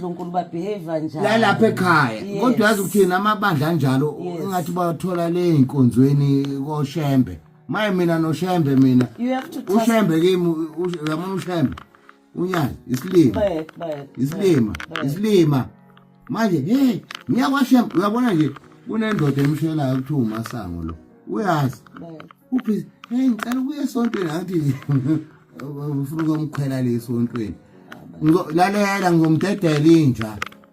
uNkulunkulu babehave njani la lapha ekhaya kodwa yazi ukuthi namabandla anjalo ingathi bathola le inkonzweni koShembe maye mina noShembe mina uShembe kimi uyamona uShembe unyana isilima isilima isilima manje hey ngiyakwashemba uyabona nje kunendoda emshelayo kuthiwa umasango lo uyazi uphi hey ngicela ukuya esontweni angithi ufuna ukumkhwela le esontweni lalela ngizomdedela inja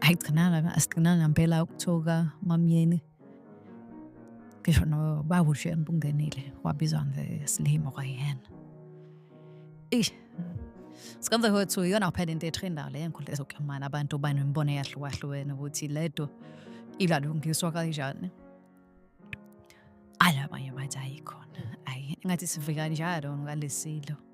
ayigcinanga asigcinanga ngempela ukuthuka mamyeni ngisho nobaba ushiye nibungenile wabizwa ngesilimo kwayena eish sikanze kwethu iyona kuphela into ethu indawo le nkundla ezokuxhumana abantu banemibono eyahlukahlukene ukuthi le nto ilalungiswa kanjani ala abanye bathi ayikhona ayi engathi sivika njalo ngalesilo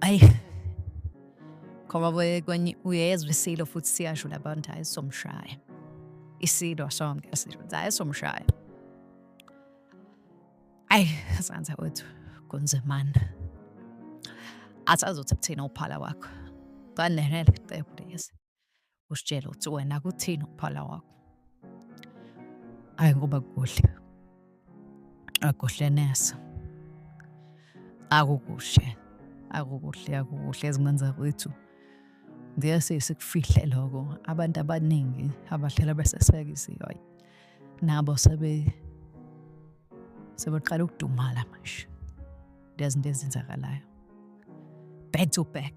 Ayi. Khoma boye kwenye uyezwa isilo futhi siyasho labantu hayi somshaya. Isilo sonke asisho hayi somshaya. Ayi, sanza wethu kunzimana. Asazothi kuthina uphala wakho. Kanenele cebo lezi. usitshele ukuthi wena kuthini ukuphala kwakho ayi ngoba kuhle akuhle nesa akukuhle akukuhle akukuhle ezingane zakwethu ngiyase sikufihle lokho abantu abaningi abahlala besesekisiyo ayi nabo sebe sebeqala ukudumala manje lezinto ezenzakalayo back to back